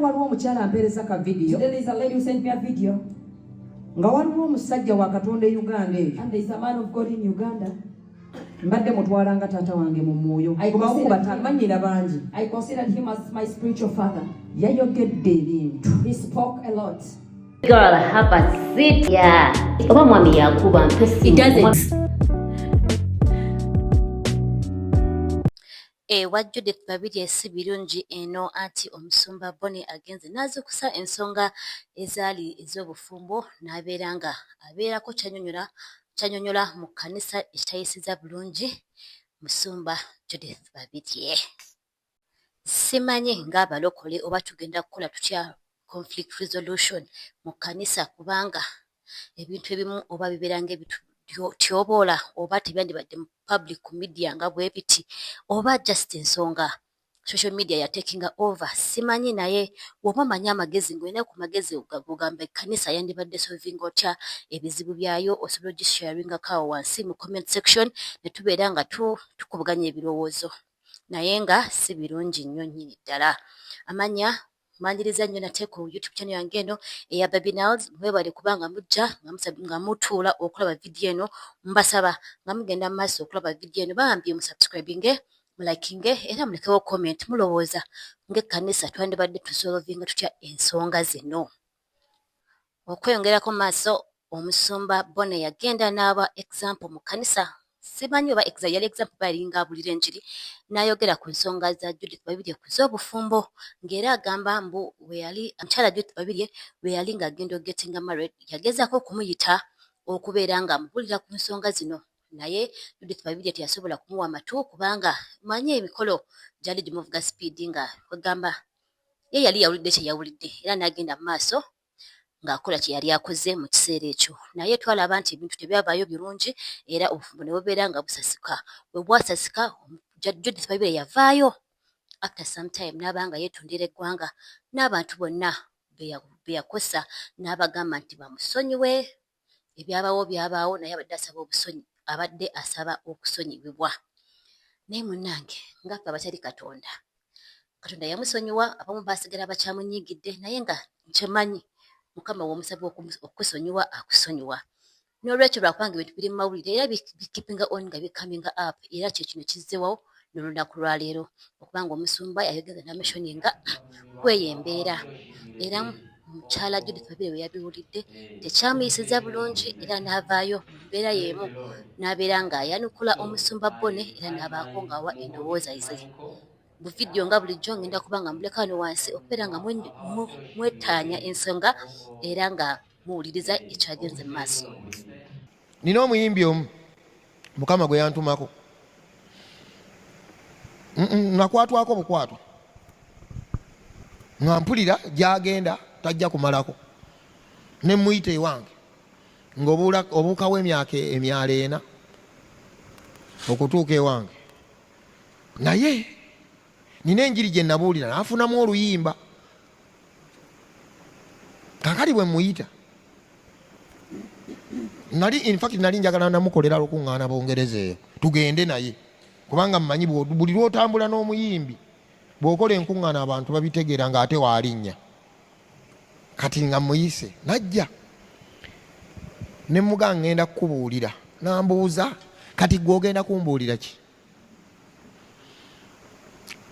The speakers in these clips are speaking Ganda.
waliwo omukyala ampeereza ka vidiyo nga waliwo omusajja wa katonda e uganda eyo mbadde mutwala nga taata wange mu mwoyo kubamanyira bangi yayogedde ebintu oba mwami yakuba mpesi Ewa Judith Babirye si birungi eno anti omusumba Bonny agenze n'azuukusa ensonga ezaali ez'obufumbo n'abeera nga abeerako ky'annyonnyola mu kkanisa ekitayisizza bulungi musumba Judith Babirye. Simanyi ng'abalokole oba tugenda kukola tutya conflict resolution mu kkanisa kubanga ebintu ebimu oba bibeera ngaebityoboola oba tebyandibadde mu public ku media nga bwe biti oba just ensonga social media yatekinga over simanyi naye woba omanyi amagezi ngaolina ku magezi ogamba ekkanisa yandibadde solvinga otya ebizibu byayo osobola ogisharingako awo wansi mu comment section ne tubeera nga tukubuganya ebirowoozo naye nga si birungi nnyo nnyini ddala amanya Mbanjiriza nnyo nate ku YouTube channel yange eno eya Baby Nals. Mwebale kuba nga mujja nga mutuula okulaba vidiyo eno. Mbasaba nga mugenda mu maaso okulaba vidiyo eno bambi musubscribinge mulakinge era mulekewo comment mulowooza ng'ekkanisa twandibadde tusolovinga tutya ensonga zino. Okweyongerako maaso Omusumba Bono yagenda n'aba example mu kkanisa simanyi oba exa yali example oba yalinga abulira enjiri n'ayogera ku nsonga za Judith Babirye ku z'obufumbo ng'era agamba mbu bwe yali mukyala Judith Babirye bwe yali ng'agenda ogetinga married yagezaako okumuyita okubeera ng'amubulira ku nsonga zino naye Judith Babirye teyasobola kumuwa matu kubanga manyi emikolo gyali gimuvuga sipiidi nga kwegamba ye yali yawulidde kye yawulidde era n'agenda mu maaso ng'akola kye yali akoze mu kiseera ekyo. Naye twalaba nti ebintu tebyavaayo birungi era obufumbo ne bubeera nga busasika. Bwe bwasasika Judith Baibire yavaayo after some time n'aba nga yeetondera eggwanga n'abantu bonna be yakosa n'abagamba nti bamusonyiwe ebyabaawo byabaawo naye abadde asaba obusonyi abadde asaba okusonyibibwa naye munnange ngaffe abatali katonda katonda yamusonyiwa abamu basigala bakyamunyiigidde naye nga nkyemanyi mukama womusaba okukusonyiwa akusonyiwa n'olwekyo lwakubanga ebintu biri mu mawulire era bikipinga on nga bikaminga up era kyekino kizzewawo nolunaku lwaleero okuba nga omusumba yayogeza namishoni nga kweyo embeera era mukyala judith babire we yabiwulidde tekyamuyisiza bulungi era n'avaayo mu mbeera y'emu n'abeera ng'ayanukula omusumba bone era n'abaako ng'awa endowooza ze mu vidiyo nga bulijjo ngenda kuba nga muleka wano wansi okubeera nga mwetaanya ensonga era nga mwe, muwuliriza ekyagenze mu maaso nina omuyimbi omu mukama gwe yantumako nakwatwako bukwatwa nga mpulira gyagenda tajja kumalako ne muyita ewange ngaobuukawo emyaka emyalo ena okutuuka ewange naye nina enjiri gye nabuulira n'afunamu oluyimba kakali bwe muyita nali infact nali njagala namukolera lukuŋŋaana bungereza eyo tugende naye kubanga mmanyi buli lwotambula n'omuyimbi bw'okola enkuŋŋaana abantu babitegeera ng'ate waalinnya kati nga muyise najja ne muga ngenda kukubuulira nambuuza kati gwe ogenda kumbuulira ki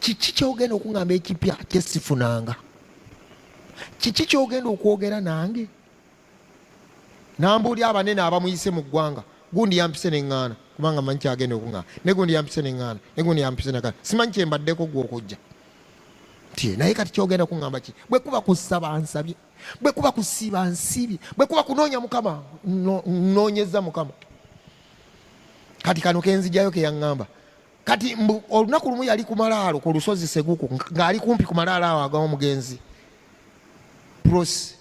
kiki kyogenda okuŋamba ekipya kyesifunanga kiki kyogenda okwogera nange nambuuli abanene abamuyise mu ggwanga gundi yampise neŋŋaana kubanga manyi kyagenda okuŋaana ne gundi yampise neŋŋaana ne gundi yampise nega simanyi kyembaddeko gwokujja nti naye kati kyogenda kuŋamba ki bwe kuba kusaba nsabye bwe kuba kusiiba nsiibye bwe kuba kunoonya mukama nnoonyeza mukama kati kano kenzijayo keyaŋŋamba kati mbu olunaku lumu yali ku malaalo ku lusozi seguku ng'ali kumpi ku malaalo awo agawa omugenzi prosi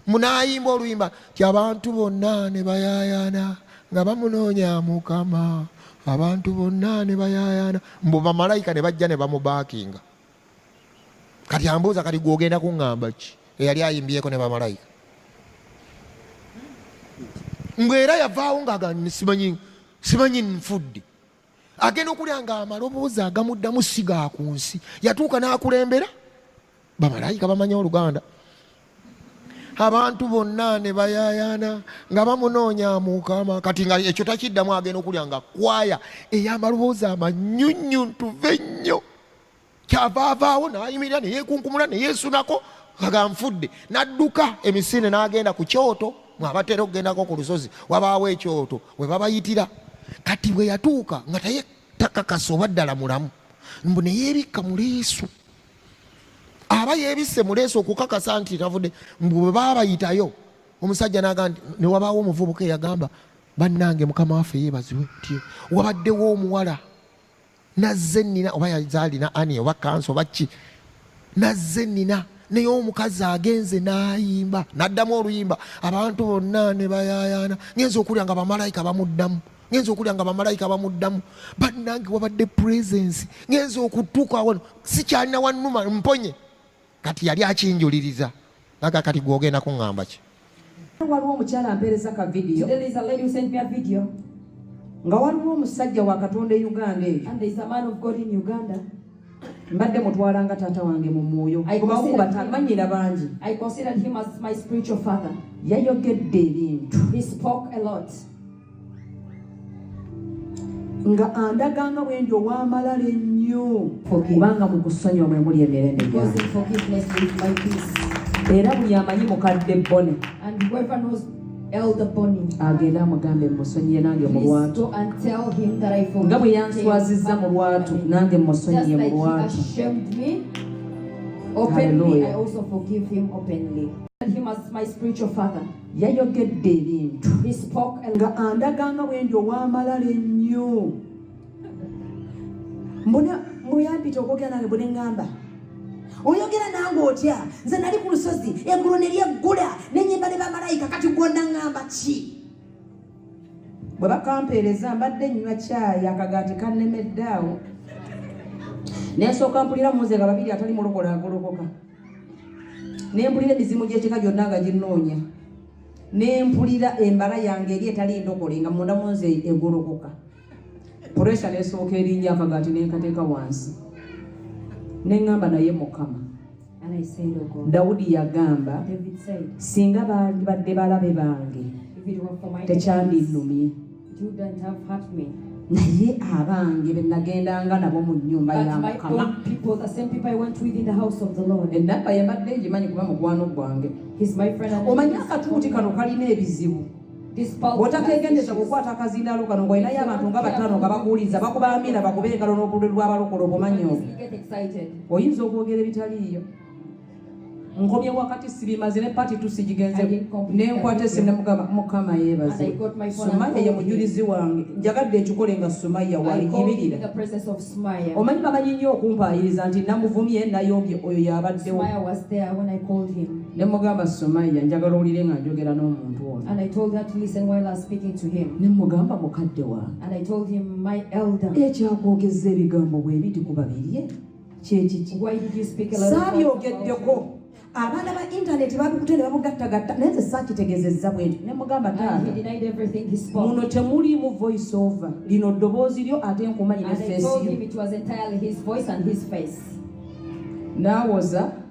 munayimba oluyimba ti abantu bonna ne bayayana nga bamunoonya mukama abantu bonna ne bayayana mbu bamalayika ne bajja ne bamubaakinga kati ambuuza kati gwogenda kuŋŋamba ki eyali ayimbyeko ne bamalayika ngaera yavaawo ngaagansimanyi simanyi nfudde agenda okulya nga amaloboozi agamuddamu si ga ku nsi yatuuka n'akulembera bamalayika bamanyi oluganda abantu bonna ne bayayaana nga bamunoonya mukama kati nga ekyo takiddamu agenda okulya nga kwaya ey'amaloboozi amanyunyuntuve ennyo kyava avaawo nayimirira neyekunkumula neyesunako aga nfudde nadduka emisinde nagenda ku kyoto mwabatera okugendako ku lusozi wabaawo ekyoto webabayitira kati bwe yatuuka nga taye takakasa oba ddala mulamu mbu neyebikka muleesu aba yebisse muleesu okukakasa nti tavudde mbu bwe babayitayo omusajja naga nti newabaawo omuvubuka eyagamba bannange mukama waffe yebaziwe nti wabaddewo omuwala nazze nina oba yazalina ani oba kansi oba ki nazze nina naye omukazi agenze nayimba naddamu oluyimba abantu bonna ne bayayaana ngenza okulya nga bamalayika bamuddamu ngenza okulya nga bamalayika bamuddamu bannange wabadde presence ngenza okutuuka wano sikyalina wanuma mponye kati yali akinjuliriza naga kati gwogenda kuŋŋamba ki waliwo omukyala ampeereza ka vidiyo nga waliwo omusajja wa katonda e uganda eyo mbadde mutwala nga taata wange mu mwoyo kubakubatamanyira bangi yayogedde ebintu nga andaga nga bwendi owamalala ennyo kubanga mu kusonyiwa mwe muli emirembe era buli amanyi mukadde bone agenda amugambe musonyiye nange mu lwatu nga bwe yanswazizza mu lwatu nange musonyiye mu lwatu Hallelujah. I also forgive him openly. Him as my spiritual father. yayogedde ebintu nga andaga nga bwendi owamalala ennyo mbona muyampita okwogera nange bune ngamba oyogera nange otya nze nali ku lusozi eggulu ne lyeggula nenyimba ne bamalayika kati gwonna ngamba ki bwe bakampeereza mbadde nnywa kyayi akagaati kannemeddaawo nensooka mpulira muze nga babiri atali mulokola agolokoka ne mpulira emizimu gy'ekika gyonna nga ginnoonya ne mpulira embala yange eri etali ndokole nga munda mu nze egolokoka puresha nesooka erinnya akagaati nenkateeka wansi ne ŋŋamba naye mukama dawudi yagamba singa baali badde balabe bange tekyandinumye naye abange benagendanga nabo mu nyumba ya mukama enabba yabadde ngimanyi kuba mukwano gwange omanyi akatuuti kano kalina ebizibu otakegendeza kukwata akazindalo kano ngaolinayo abantu nga batano nga bakuwuliza bakuba amina bakuba engalo n'obululu lw'abalokolo obumanyi obwo oyinza okwogera ebitaliiyo nkomye wakati sibimaze ne pati tusigigenze nenkwata esimu nemugamba mukama yebaze sumaya ye mujulizi wange njagadde ekikole nga sumaya waiyibirira omanyi bamanyi nnyo okumpaayiriza nti namuvumye nayombye oyo yabaddewo nemugamba sumaya njagala owulire nga njogera n'omuntu ono nemugamba mukadde wange ekyakwogeza ebigambo bwebiti ku babirye saabyogeddeko abaana ba intaneti babikute ne babugattagatta naye nze saakitegezezza bwenti ne mugamba taatamuno temuliimu voice over lino ddoboozi lyo ate nkumanyi ne feesi nawoza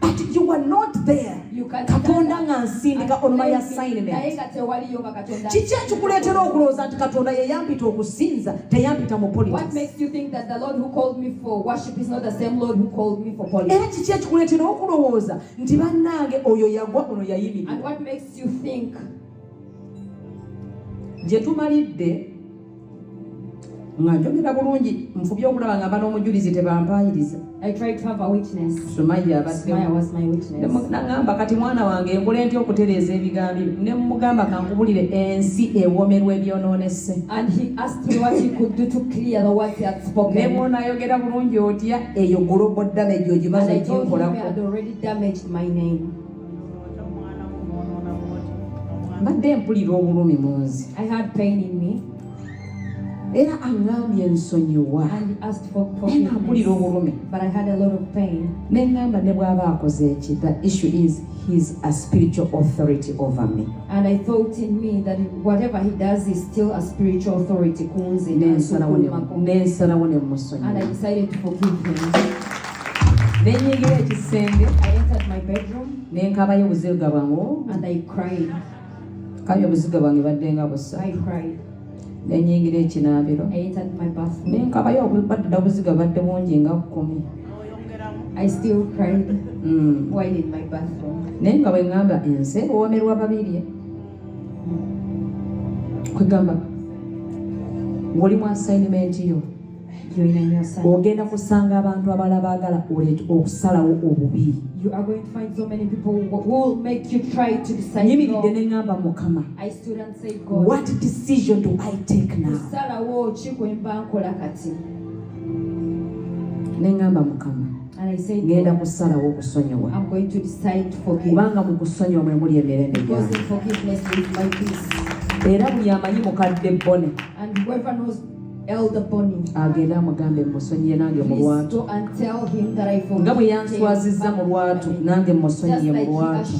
but you were not there katonda nga nsindika on my assignment kiki ekikuleetera okulowooza nti katonda yeyampita okusinza teyampita mu era kiki ekikuleetera okulowooza nti bannange oyo yagwa ono yayimirira gye tumalidde nga njogera bulungi nfubye okulaba nga bana omujulizi tebampaayiriza nagamba kati mwana wange nkole ntya okutereeza ebigambo byo ne mugamba kankubulire ensi ewomerwa ebyononese ne bwonaayogera bulungi otya eyo global damage ogimaze oginkolako mbadde mpulira obulumi mu nze era aŋambye nsonyiwa naye mpulira obulumi ne ŋamba ne bw'aba akoze eki the issue is his a spiritual authority over me and i thought in me that whatever he does is still a spiritual authority ku nze nensalawo ne musonyiwa nenyingira ekisenge i entered my bedroom nenkabayo obuziga bwange and i cried kayo obuziga bwange badde nga busa i cried nenyingira ekinaabiro i entered my bathroom nenkabayo badda obuziga badde bungi nga kkumi I still cried mm. while in my bathroom. Naye nga bwengamba ensi ewoomerwa babirye kwegamba woli mu assignment yo ogenda kusanga abantu abala baagala okusalawo obubi nyimiridde ne ŋamba mukama what decision do i take now ne ŋamba mukama ngenda kusalawo okusonyiwa kubanga mu kusonyiwa mwe muli emirembe gyange era buli amanyi mukadde bone Elder Bonnie. agende amugambe musonyiye nange mu lwatu nga bwe yanswazizza mu lwatu nange musonyiye mu lwatu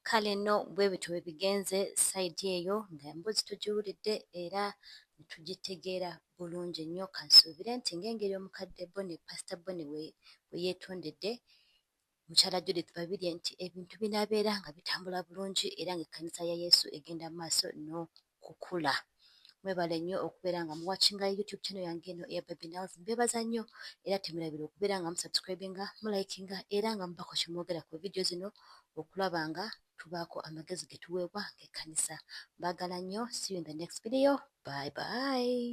kale nno bwe bityo bwe bigenze sayidi eyo nga emboozi tugiwulidde era tugitegeera bulungi nnyo kansuubire nti ng'engeri omukadde bone pasita bone we yeetondedde Mukyala Judith Babirye nti ebintu binaabeera nga bitambula bulungi era ng'ekkanisa ya Yesu egenda mu maaso n'okukula. Mwebale nnyo okubeera nga muwakinga YouTube channel yange eno eya Baby Nals. Mbeebaza nnyo era temerabira okubeera nga musubscribinga, mulayikinga era nga mubako kye mwogera ku vidiyo zino okulaba nga tubaako amagezi ge tuweebwa ng'ekkanisa. Mbaagala nnyo. See you in the next video. Bye bye.